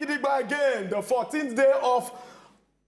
Gidigba again, the 14th day of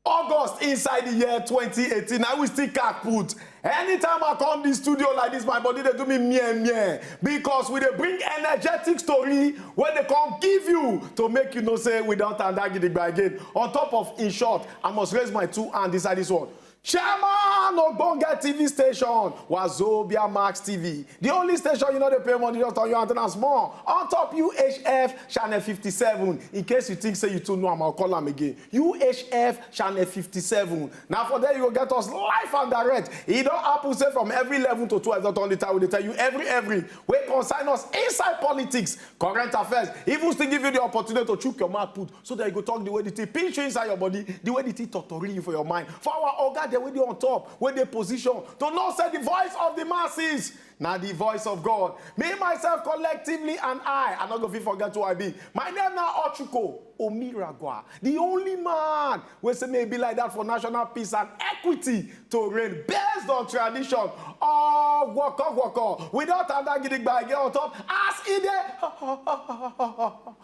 August inside the year 2018. I will still cat put. Anytime I come this studio like this, my body they do me meh meh because we they bring energetic story when they come give you to make you know say without and that gidigba again. On top of in short, I must raise my two hands inside this one. Chairman ogbonge TV station, Wazobia Max TV. The only station you no dey pay money, just on your antenna small. On top UHF channel 57. In case you think say you too know am, I'll call am again. UHF channel 57. Na for there you go get us live and direct. E don happen say from every 11 to 12 dot on the time we dey tell you every every wey concern us inside politics, current affairs, even still give you the opportunity to chook your mouth put so that you go talk the way the thing pinch you inside your body the way the thing totori you for your mind for our oga dem wey dey on top wey dey position to know say the voice of the masses na the voice of god me myself collectively and i i no go fit forget who i be my name na ochuko omiragwa the only man wey say may e be like that for national peace and equity to reign based on tradition all woko woko without ada gidigba again on top as e dey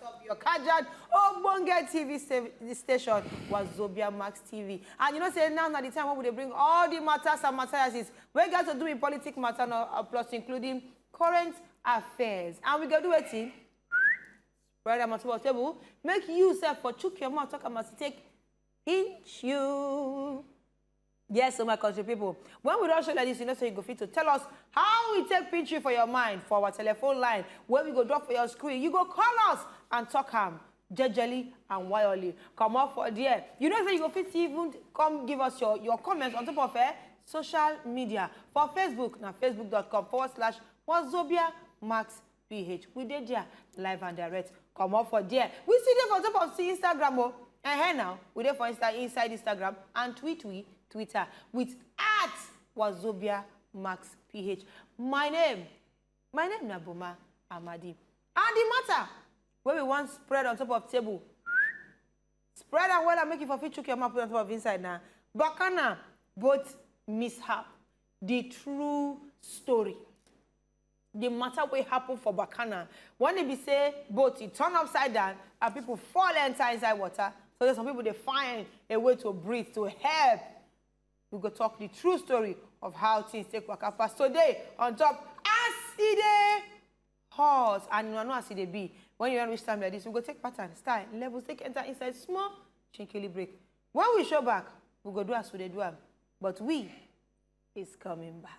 Top your kajad ogbonge tv sta- station wazobia max tv and you know say now na the time wey we dey bring all the matters and materials wey get to do with politics matter no, uh, plus including current affairs and we go do wetin spread am on top of table make you sef for chook your mouth talk am as e take pinch you. Yes, so my country people, when we rush you like this, you know, so you go fit to tell us how we take picture for your mind for our telephone line, where we go drop for your screen. You go call us and talk ham jejely and wildly. Come up for there. You know, so you go fit even come give us your, your comments on top of eh, social media. For Facebook, now facebook.com forward slash Wazobia Max ph we dey there live and direct comot for there we still dey for top of see instagram o oh. eh now we dey for insta inside instagram and tweet we twitter with at wazobia max ph my name my name na boma amadi and the matter wey we wan spread on top of table spread am well and make you for fit chook your mouth put on top of inside na bakana both mishap the true story di matter wey happen for Bacana when e be say boat e turn upside down and people fall enter inside water so that some people dey find a way to breathe to help. We go talk the true story of how things take waka pass today on top as e dey hot and una know as e dey be when you wan reach time like this we go take pattern style levels take enter inside small shinkily break when we show back we go do as we dey do am but we is coming back.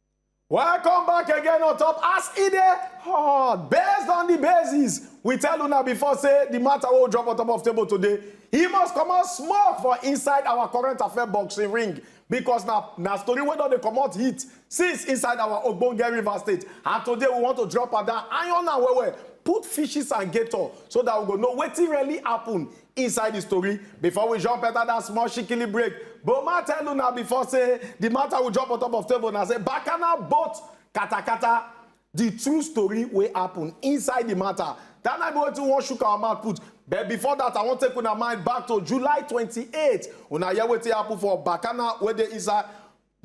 Welcome back again on top as e dey hot. Based on the basis, we tell una before say the matter wey we drop on top of table today, e must comot smoke for inside our current affair boxing ring because na na story wey don dey comot heat since inside our ogbonge river state and today we want to drop am down iron am well well put fishes and gator so that we go know wetin really happen Inside the story, before we jump enter that small shikili break, Boma tell una before say the matter we jump on top of table na say Bakana boat katakata the true story wey happen inside the matter. That na be wetin we wan shook our mouth put. But before that, I wan take una mind back to July 28. Una hear wetin happen for Bakana wey dey inside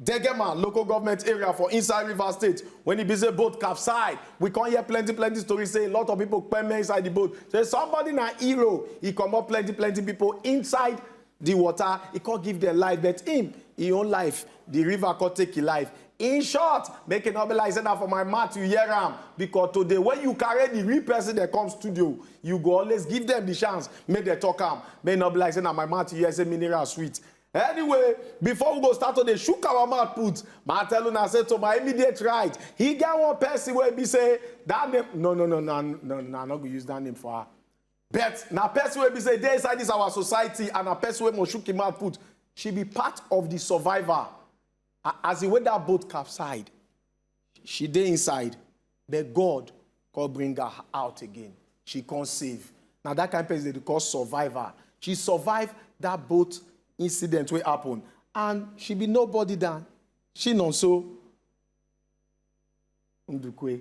Degema local government area for inside Rivers State when e be say boat capsize. We come hear plenty plenty stories say a lot of people kpeme inside the boat. Say somebody na hero, e comot plenty plenty people inside the water, e come give them life but him, him own life, the river come take him life. In short, make e no be like say na for my mouth you hear am because today when you carry the real person dem come studio, you go always give them the chance make dem talk am. Make e no be like say na my mouth you hear say mineral sweet. Anyway, before we go start to dey shook our mouth put, ma I tell una say to my immediate right, e get one person wey be say that name, no no no no no no, I no go use that name for her. But na person wey be say dey inside this our society and na person wey must shook im mouth put. She be part of the survivor a- as the way that boat capsized. She dey inside but God come bring her out again, she come save. Na that kind person dem dey call survivor. She survive that boat incident wey happen and she be nobody dan Chinonso Ndukwe.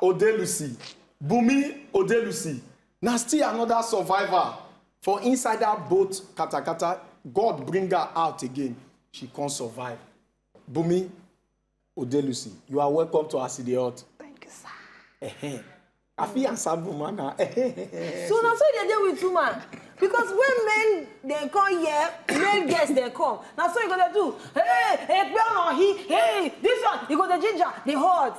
odelusi bunmi odelusi na still anoda survivor for inside dat boat katakata god bring her out again she come survive bunmi odelusi you are welcome to as e dey hot Thank you, sir. Ehem. i fit answer bunma na So na so e dey dey with woman because when men dem come here, male girls dem come. Na so e go dey do. Hey, ekpe ọ̀nà hi, hey, this one, e go dey ginger, dey hot.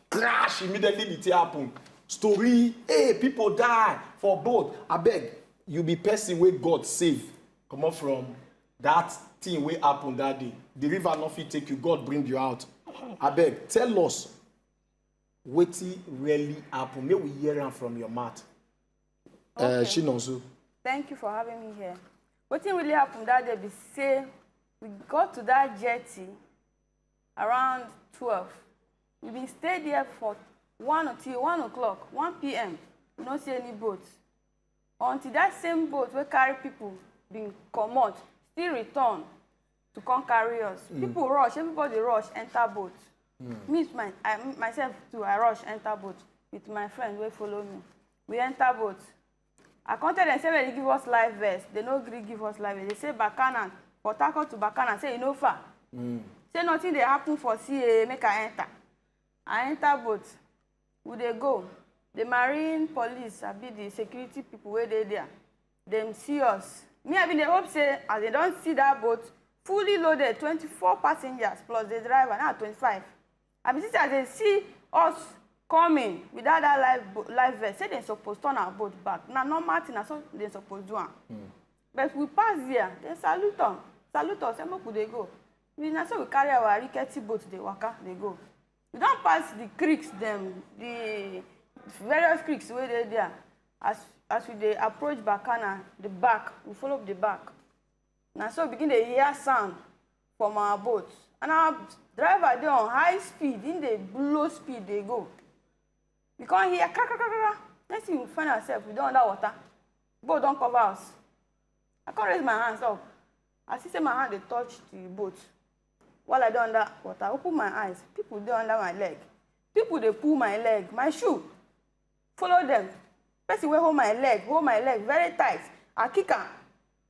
crash immediately the thing happen story hey people die for boat abeg you be person wey god save comot from that thing wey happen that day the river no fit take you god bring you out abeg tell us wetin really happen make we hear am from your mouth eh, okay. uh, chinonso. thank you for having me here wetin really happen that day be say we got to that jetty around twelve we bin stay there for one till one o'clock one pm we no see any boat until that same boat wey carry people bin comot still return to come carry us mm. people rush everybody rush enter boat mm. me with my I, myself too i rush enter boat with my friend wey follow me we enter boat I come tell dem say make dem give us live verse. They no gree give us live verse. They say Bacana, Port Harcourt to Bacana, say e no far. Mm. Say nothing dey happen for CAA, make I enter. I enter boat. We dey go. The marine police, I be the security people wey dey there. Dem see us. Me, I bin dey hope say as they don see that boat, fully loaded, 24 passengers plus the driver, now 25. I be see say as they see us coming without that life life vest, say they supposed turn our boat back. Now normal thing, so they supposed do am. Mm. But we pass there, they salute them, salute us, and make we dey go. We now so we carry our rickety boat, they waka, they go. We don't pass the creeks, them, the various creeks where they there. As as we dey approach Bacana, the back, we follow up the back. Now so we begin to hear sound. from our boat and our driver dey on high speed he dey blow speed dey go we come hear kra kra kra kra next thing we find ourselves we don under water boat don cover us i come raise my hands up i see say my hand dey touch the boat while i dey under water open my eyes people dey under my leg people dey pull my leg my shoe follow them person wey hold my leg hold my leg very tight i kick am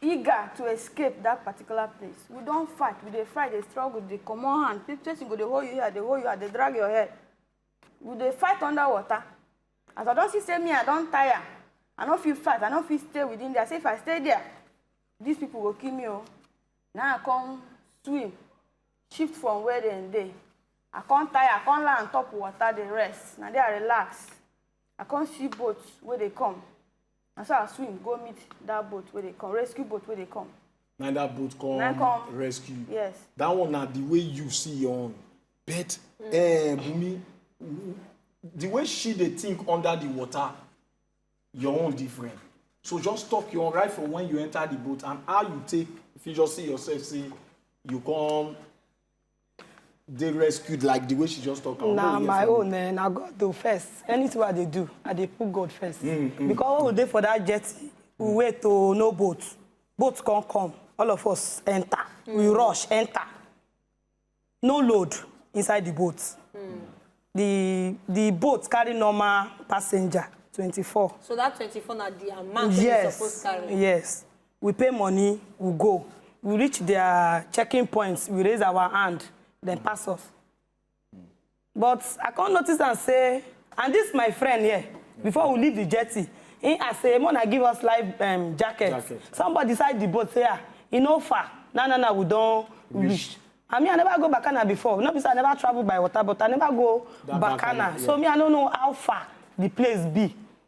eager to escape that particular place we don fight we dey fight dey struggle dey comot hand pe- person go dey hold you here dey hold you here dey drag your head we dey fight under water as i don see say me i don tire i no fit fight i no fit stay within there say if i stay there these people go kill me o na i come swim shift from where dem dey i come tire i come lie on top water dey rest na there i relax i come see boat wey dey come na so i swim go meet that boat wey dey come rescue boat wey dey come na that boat come, na come rescue yes that one na the way you see your own but mm. eh, bumi the way she dey think under the water your own different so just talk your own right from when you enter the boat and how you take if you just see yourself say you come dey rescued like the way she just talk am. na my own eh, na god do first anything i dey do i dey put god first. Mm, mm, because when we dey for that jet we wait to no boat boat come come all of us enter mm. we rush enter no load inside the boat mm. the the boat carry normal passenger twenty-four. so that twenty-four na the amount yes. wey you suppose carry. yes we pay money we go we reach their checking points we raise our hand then pass us but i come notice and say and this my friend here before we leave the jetty he ask say mona give us life um, jacket. jacket somebody inside the boat say ah e no far na na na we don reach I mean, I never go Bacana before. Not because I never traveled by water, but I never go that Bacana. Bacana yeah. So me, I don't know how far the place be.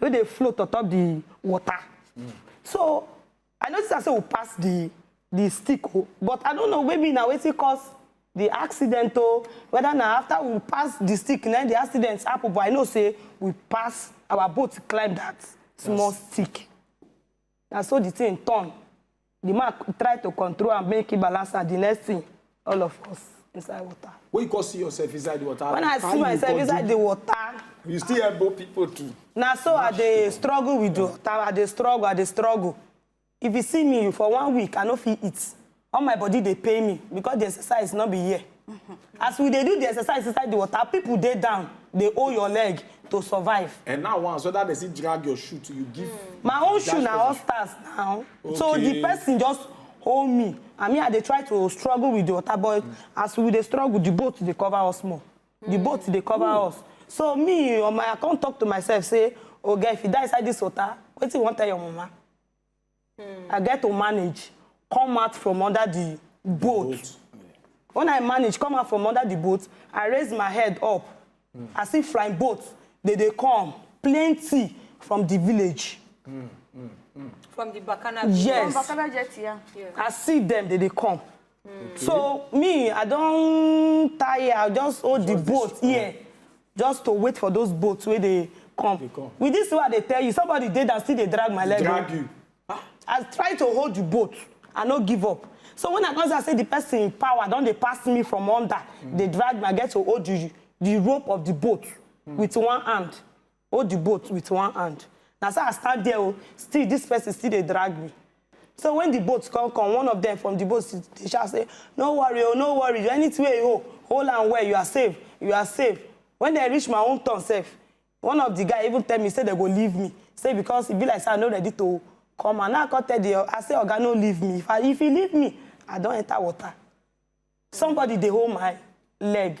wey dey float on top the water so i notice am say we pass the the stick o oh. but i don't know maybe na wetin cause the accident o oh. whether na after we pass the stick na the accident happen but i know say we pass our boat climb that small stick na so the thing turn the man try to control am make he balance am the next thing all of us inside water. when you come see yourself inside the water. when i see myself inside the water. you still elbow people too. na so i dey struggle with the water i dey struggle i dey struggle if you see me for one week i no fit eat all my body dey pain me because the exercise no be here. as we dey do the exercise inside the water people dey down dey hold your leg to survive. and now once whether they still drag your shoe to you give. Mm. my own shoe na all stars now okay. so the person just hold me and me i dey try to struggle with the water but mm. as we dey struggle the boat dey cover us more mm. the boat dey cover Ooh. us so me or my i come talk to myself say oga oh, if you die inside this water wetin you wan tell your mama mm. i get to manage come out from under the boat, boat. when i manage come out from under the boat i raise my head up mm. i see flying boat they dey come plenty from the village. Mm. Mm. Mm. from the bacana yes from bacana jet yeah. yeah i see them they dey come okay. so me i don tire i just hold the boat here just to wait for those boats wey dey come with this one i dey tell you somebody dey that still dey drag my leg drag you ah. i try to hold the boat i no give up so when i come say say the person in power don dey pass me from under mm. dey drag me i get to hold the the rope of the boat mm. with one hand hold the boat with one hand na so i stand there o oh, still this person still dey drag me so when the boat come come one of them from the boat dey shout say no worry o oh, no worry anything wey you hold hold am well you are safe you are safe when they reach my own turn sef one of the guy even tell me say they go leave me say because e be like say i no ready to come and now i come tell the i say oga no leave me if i if he leave me i don enter water somebody dey hold my leg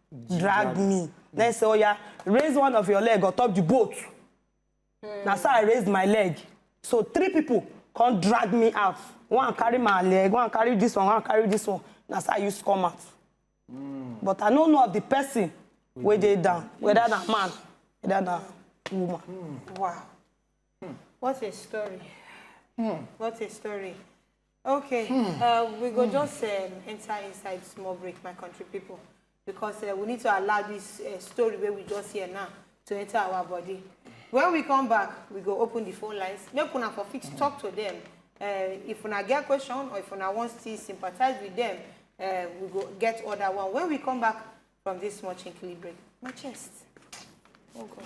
drag me na him say oya raise one of your leg on top the boat hmm. na so i raise my leg so three people come drag me out one carry my leg one carry this one one carry this one na so i use come out hmm. but i no know of the person wey dey down whether na man whether na woman. Hmm. wow what a story. Hmm. What a story. Okay, hmm. uh, we go hmm. just um, enter inside small break, my country people, because uh, we need to allow this uh, story where we just hear now to enter our body. When we come back, we go open the phone lines. Make una for fit hmm. talk to them. Uh, if una get question or if una want to sympathize with them, uh, we go get other one. When we come back from this small chinkly break, my chest. Oh God.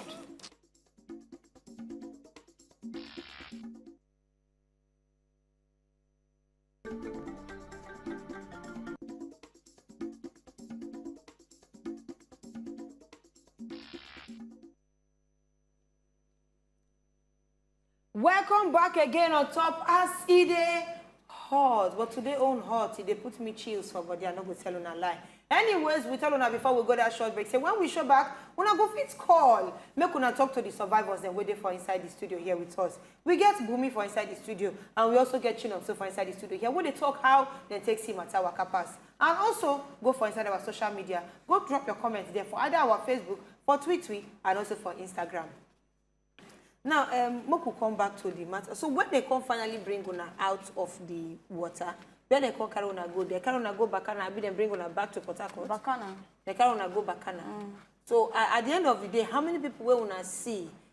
welcome back again on top as e dey hot but today own hot e dey put me chills for body i no go tell una lie anyways we tell una before we go that short break say when we show back una go fit call make una talk to the survivors dem wey dey for inside the studio here with us we get bumi for inside the studio and we also get chinonso for inside the studio here wey dey talk how dem take see matter waka pass and also go for inside our social media go drop your comments there for either our facebook for twitter and also for instagram now um, make we come back to the matter so when they come finally bring una out of the water when they come carry una go there carry una go bakana abi dem bring una back to port harcourt bakana dem carry una go bakana mm. so uh, at the end of the day how many people wey una see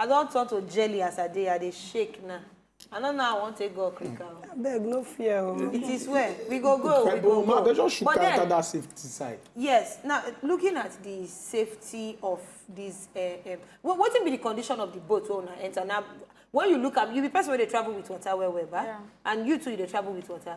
I don turn to jelly as I dey, I dey shake now. I don't know how I want to go Okrika. Oh. I beg, no fear. Oh. It is where we go go. We go go. They just should but then, that safety side. Yes. Now, looking at the safety of this, uh, eh, um, what, what will be the condition of the boat when I enter? Now, when you look up, you be person when they travel with water, where, where, yeah. and you too, they travel with water.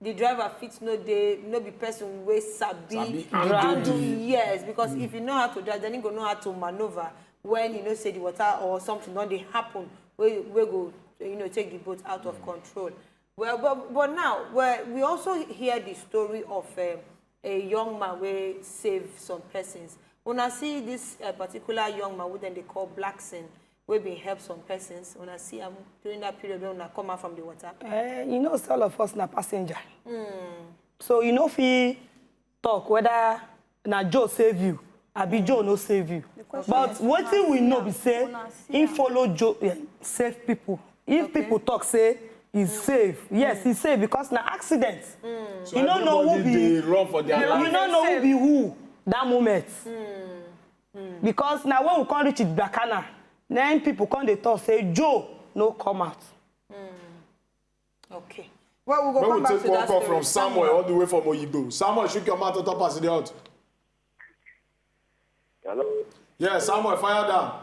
the driver fit no dey no be person wey sabi Sabi handle handle the- yes because if you know how to drive then you go know how to manoeuvre when you know say the water or something don dey happen wey wey go you know take the boat out of control well but but now well, we also hear the story of um, a young man wey save some persons una see this uh, particular young man wey dem dey call blackson wey bin help some persons una see am during that period when una come out from the water. Uh, you know say all of us na passenger. Mm. so you no fit talk whether na joe save you abi joe no save you but wetin we know be say he follow joe yeah, save people if okay. people talk say he mm. save yes mm. he save because na accident mm. so you no know who be you no know who be who that moment mm. Hmm. because na when we come reach igbakana na im people come dey talk say joe no come out. Hmm. okay. well we go come back to that story. from samuel all the way from oyibo samuel shook your mouth on top as e dey hot. hello. yes samuel fire down.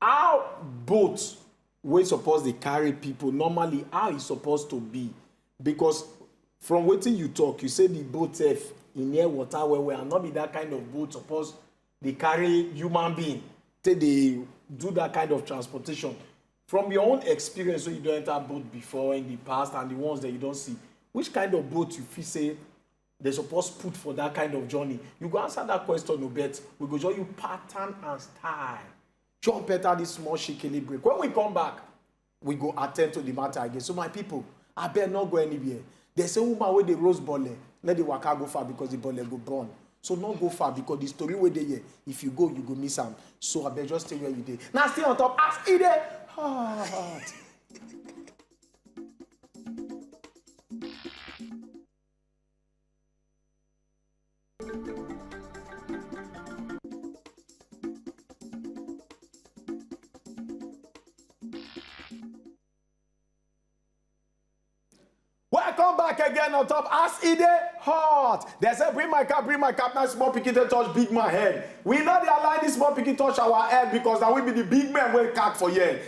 How boat wey suppose dey carry people normally how e suppose to be because from wetin you talk you say the boat sef e near water well well and no be that kind of boat suppose dey carry human being take dey do that kind of transportation from your own experience wey you don enter boat before in the past and the ones that you don see which kind of boat you feel say dem suppose put for that kind of journey you go answer that question o bet we go show you pattern and style chop better this small shikini break when we come back we go attend to the matter again so my people I abeg not go anywhere they say woman wey dey rose bole let the waka go far because the bole go burn so no go far because the story wey dey here if you go you go miss am so abeg just stay where you dey na stay on top as e dey hot. Welcome back again on top as e dey hot. Dem say bring my cap, bring my cap, na small pikin take touch big man head. We no dey allow any small pikin touch our head because na we be the big men wey catch for here.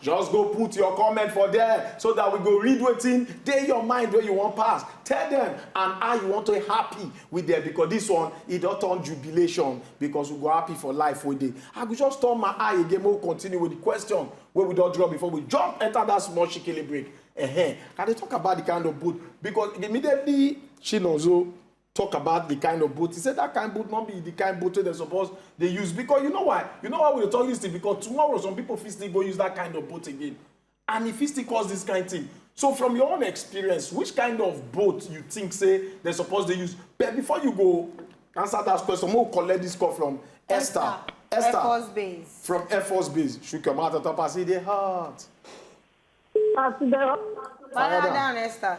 Just go put your comment for there so that we go read wetin dey your mind wey you wan pass. Tell them and how you want to happy with them because this one e don turn jubilation because we go happy for life wey dey. I go just turn my eye again make we continue with the question wey we don draw before we jump enter that small shikili break. Uh-huh. I dey talk about the kind of boat because immediately Chinonso talk about the kind of boat he say that kind boat no be the kind boat wey dem suppose dey use because you know why you know why we dey talk this thing because tomorrow some people fit still go use that kind of boat again and e fit still cause this kind thing so from your own experience which kind of boat you think say dem suppose dey use but before you go answer that question make we collect this call from esther esther, esther. air force base from air force base shook your mouth on top as e dey hot. as e dey hot. fire down esther.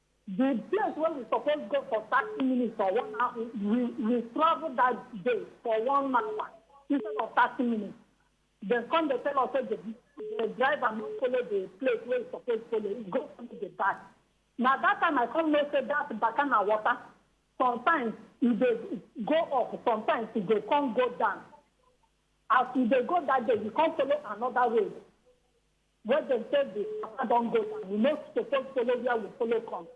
Di place wey we suppose go for thirty minutes or one hour, we we travel dat day for one hour instead of thirty minutes. Dem come dey tell us say the the driver no follow the place wey e suppose follow, e go follow the back. Na dat time I come know say dat baka na water. Sometimes e dey go up, sometimes e dey come go down. As we dey go dat day, we come follow another road. Where dem take di sapa don go na we no suppose follow where we follow come.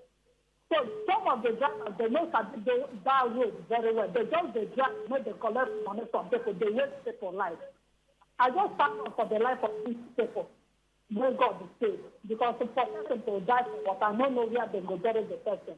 So some of di drivers dem no sabi do dat road very well, dem just dey drive make dem collect money from pipo, dey waste pipo life. I just thank God for di life of dis pipo wey God save because for pesin to die for water, no know where dem go bury di pesin.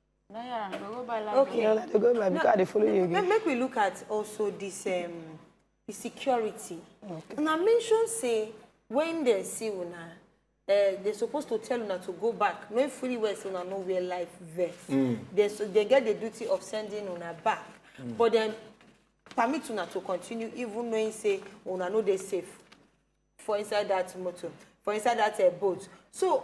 Yeah, we go buy like okay. No, they go buy because no, they follow you again. Make we look at also this um the security. Okay. And I mentioned say when they see una, uh, eh, they're supposed to tell una to go back. No fully well say una no wear life vest. Mm. They so they get the duty of sending una back. Mm. But then permit una to continue even knowing say una no they safe for inside that motor, for inside that uh, boat. So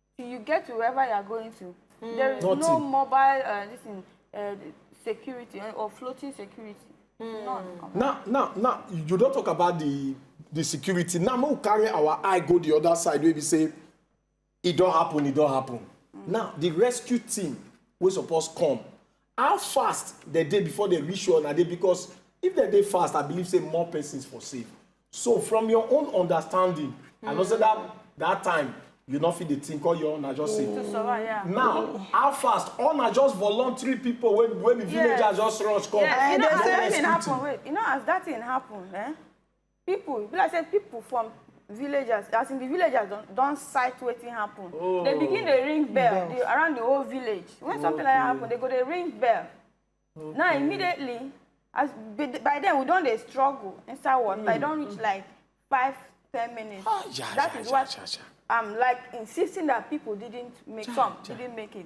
till you get to wherever you are going to mm. there is Nothing. no mobile uh, this thing, uh, security eh, or floating security mm. none now now now you don't talk about the the security now we carry our eye go the other side wey be say it don't happen It don't happen mm. now the rescue team wey suppose come How fast dem dey before dem reach where una dey because if dem dey fast I believe say more persons for save. So from your own understanding I know say that that time you no fit dey think all your own na just say To survive, yeah. now how fast all na just voluntary people wey wey be Yeah. villagers just rush come Yeah, you know, Yes, as that yes, thing happen, wait, you know, as that thing happen, eh? people be like say people from villagers as in the villagers don don sight wetin happen oh. they begin dey ring bell the, around the whole village when okay. something like that happen they go dey ring bell okay. now immediately as by then we don dey struggle inside water mm. i don reach like five ten minutes oh, yeah, that yeah, is yeah, what yeah, yeah. i'm like insisting that people didn't make yeah, come yeah. didn't make it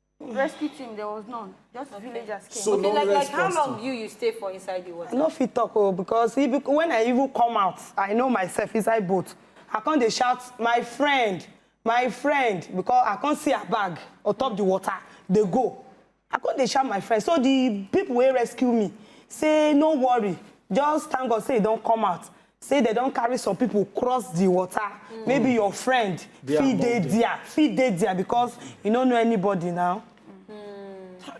rescue team there was none just okay. villagers came. so okay, no like, like how long you you stay for inside the water. i no fit talk oh because if, when i even come out i know myself inside boat i come dey shout my friend my friend because i come see her bag on top the water dey go i come dey shout my friend so the people wey rescue me say no worry just thank god say e don come out say they don't carry some people cross the water mm. maybe your friend they fit dey there fit dey there because you don't know anybody now mm.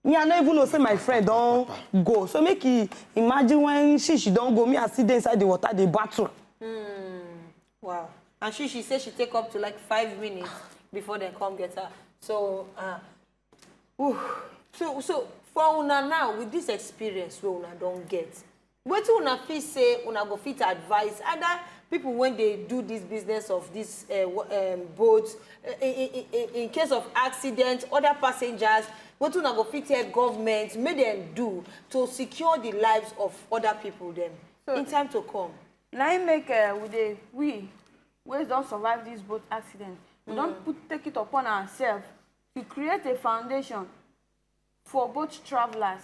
me i no even know say my friend don't go so make you imagine when she she don't go me i sit there inside the water the battle. Mm. wow and she she say she take up to like five minutes before they come get her so. Uh, Ooh. so so for una now with this experience wey una don get wetin una fit say una go fit advise either people when they do this business of this uh, um, boat uh, in, in, in, case of accident other passengers wetin una go fit tell government make them do to secure the lives of other people Them so, in time to come. Now im make uh, we dey we wey don survive this boat accident we mm. don put take it upon ourselves to create a foundation for both travelers.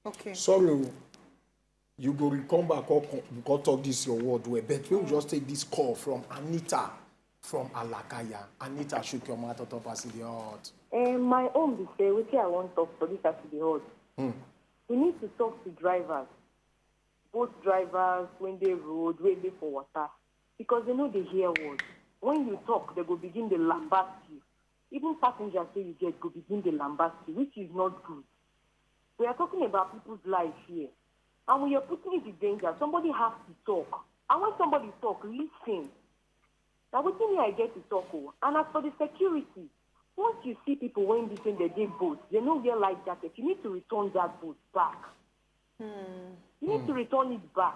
Okay. Sorry, oh. you go come back or go talk this your word well, but we will just take this call from Anita from Alakaya. Anita shook your mouth top as the heart. Uh, my own be say, wetin I wan talk for this as the heart. Hmm. We need to talk to drivers, both drivers when they road, when they for water. Because they no dey hear word. When you talk, they go begin dey lambast you. Even passengers wey you get go begin dey lambast you, which is not good. We are talking about people's life here. And when you're putting it in danger, somebody has to talk. And when somebody talk, listen. Now, what me I get to talk o. And as for the security, once you see people when they say they did boat, they no wear life jacket, you need to return that boat back. You need to return it back.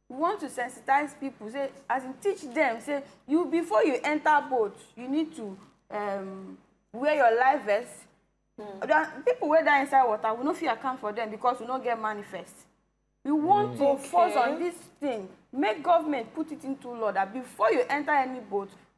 we want to sensitize people say as in teach them say you before you enter boat you need to um, wear your life vest mm. then people wey die inside water we no fit account for them because we no get manifest we want mm. to okay. force on this thing make government put it into law that before you enter any boat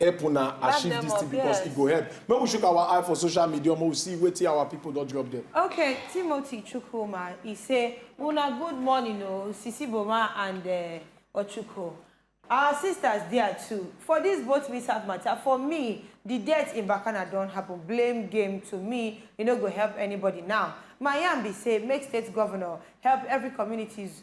help una achieve dis thing because e go help make we shook our eye for social media make we see wetin our people don drop there. okay timothy chukwuma e say una good morning o oh, sisi boma and eh, ochuko our sisters there too for dis boat mishap matter for me di death in bacana don happen blame game to me e no go help anybody now my yarn be say make state governor help every communities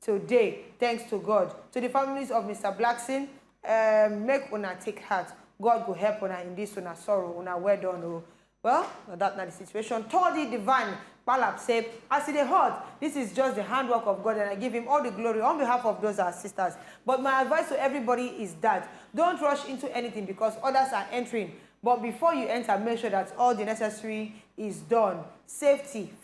today thanks to god to the families of mr blackson um, make una take heart god go help una in this una sorrow una well done o oh. well na that na the situation toddy divine Balab said, As it is hot, this is just the handwork of God, and I give him all the glory on behalf of those our sisters. But my advice to everybody is that don't rush into anything because others are entering. But before you enter, make sure that all the necessary is done. Safety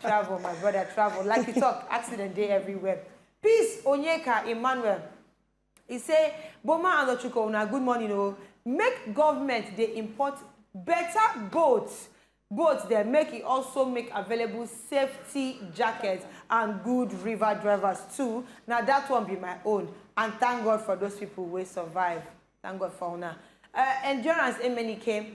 travel my brother travel like you talk accident dey everywhere peace onyeka emmanuel e say boma and ochuko una good morning o make government dey import better boat boat dem make e also make available safety jackets and good river drivers too na that one be my own and thank god for those people wey survive thank god for una uh, endurance emenike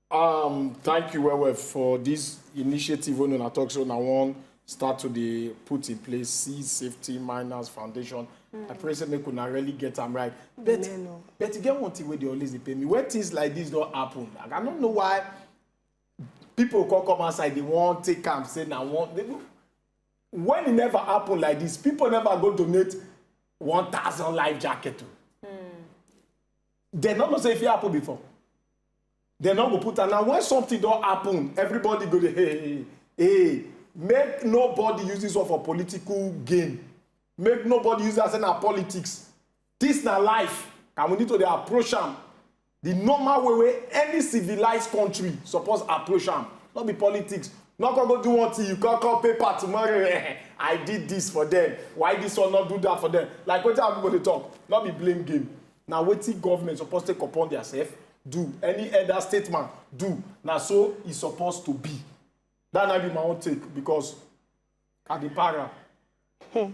Um, thank you, Wewe, for this initiative when I talk so now one start to the put in place seed safety miners foundation. Mm. I pray say make una really get them right. But Amen. Oh. but you get one thing where they always pay me. When things like this don't happen, like, I don't know why people come come outside they won't take am say now one. They, when it never happen like this, people never go donate one thousand life jacket. Mm. They not know say if it happen before. Dem no go put am. Na when something don happen, everybody go dey hey, hey, hey. Make nobody use this one for political gain. Make nobody use that say na politics. This na life and we need to dey approach am the normal way wey any civilized country suppose approach am. No be politics. No come go do one thing, you come come paper tomorrow. Eh, I did this for them. Why this one not do that for them? Like wetin our people dey talk, no be blame game. na wetin government suppose take upon theirself do any elder statement do na so e suppose to be that na be my own take because i dey para. Hmm.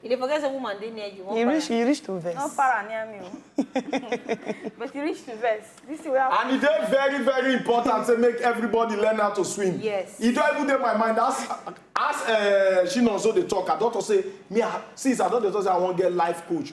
You dey forget say woman dey near you. You reach, you reach to vex. No para near me oh. But you reach to vex. This is where I And it is very, very important to make everybody learn how to swim. Yes. It don't even dey my mind. As as uh, she also dey talk, I don't say me. Since I don't dey talk, say I wan get life coach.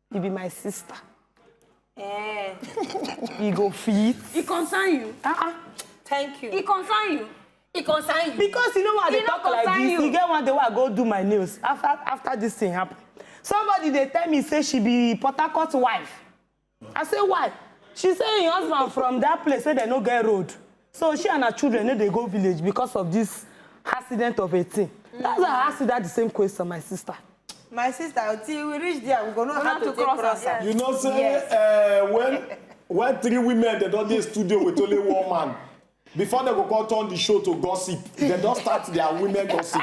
e be my sister eh e go fit e concern you ah ah thank you e concern you e concern you because you know why i dey talk like this e get one day wey i go do my nails after after this thing happen somebody dey tell me say she be port harcourt wife i say why she say im husband from that place wey dem no get road So she and her children no dey go village because of this accident of a thing. Mm. That's why I asked you that the same question, my sister. My sister, until we reach there, we go know how to, to cross, cross yes. You know, say yes. uh, when when three women they don dey studio with only one man before they go come turn the show to gossip they don start their women gossip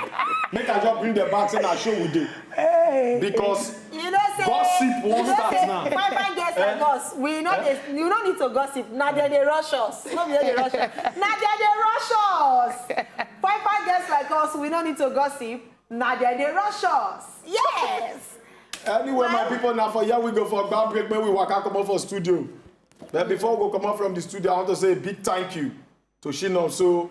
make i just bring them back say na show we dey because you know say gossip won't start now. fine fine girls like eh? us we no dey eh? you no need to gossip na there dey rush us no be there dey rush us na there dey rush us fine fine girls like us we no need to gossip na there dey rush us yes. anyway my people na for here we go for gba break make we waka comot for studio but before we go comot from the studio i want to say a big thank you to shina so.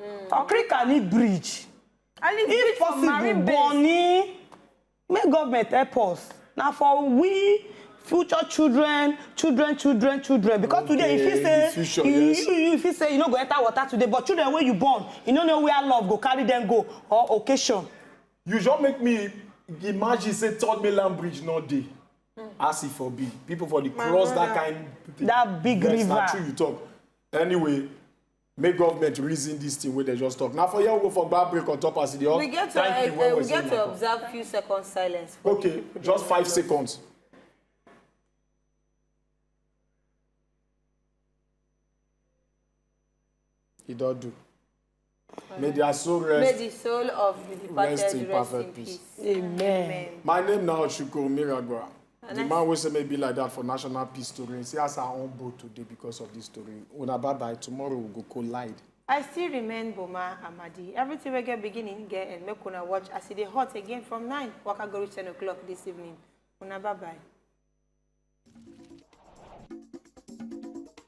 Hmm. Okrika ni bridge. I need bridge for marine base. Bonny, may government help us. Now for we future children children children children because okay, today if you say future, you, yes. you, you if you say you no go enter water today but children wey you born you no know where love go carry them go or occasion. you just make me imagine say third mainland bridge no dey mm. as e for be people for the cross that kind thing that big yes, river yes na true you talk anyway make government reason this thing wey dem just talk na for here we go for gba break on top as e dey hot we get to thank you uh, well uh, we well get to Nako. observe few seconds silence. For okay just five seconds. e don do. May their soul rest. May the soul of the departed rest in perfect rest in peace. peace. Amen. Amen. My name now is Shuko Miragwa. The man wey say may be like that for national peace story, see as her own boat today because of this story. Una bye bye, tomorrow we go collide. I still remain Boma Amadi. Everything we get beginning, get end. Make una watch as it e dey hot again from 9, waka go reach 10 o'clock this evening. Una bye bye.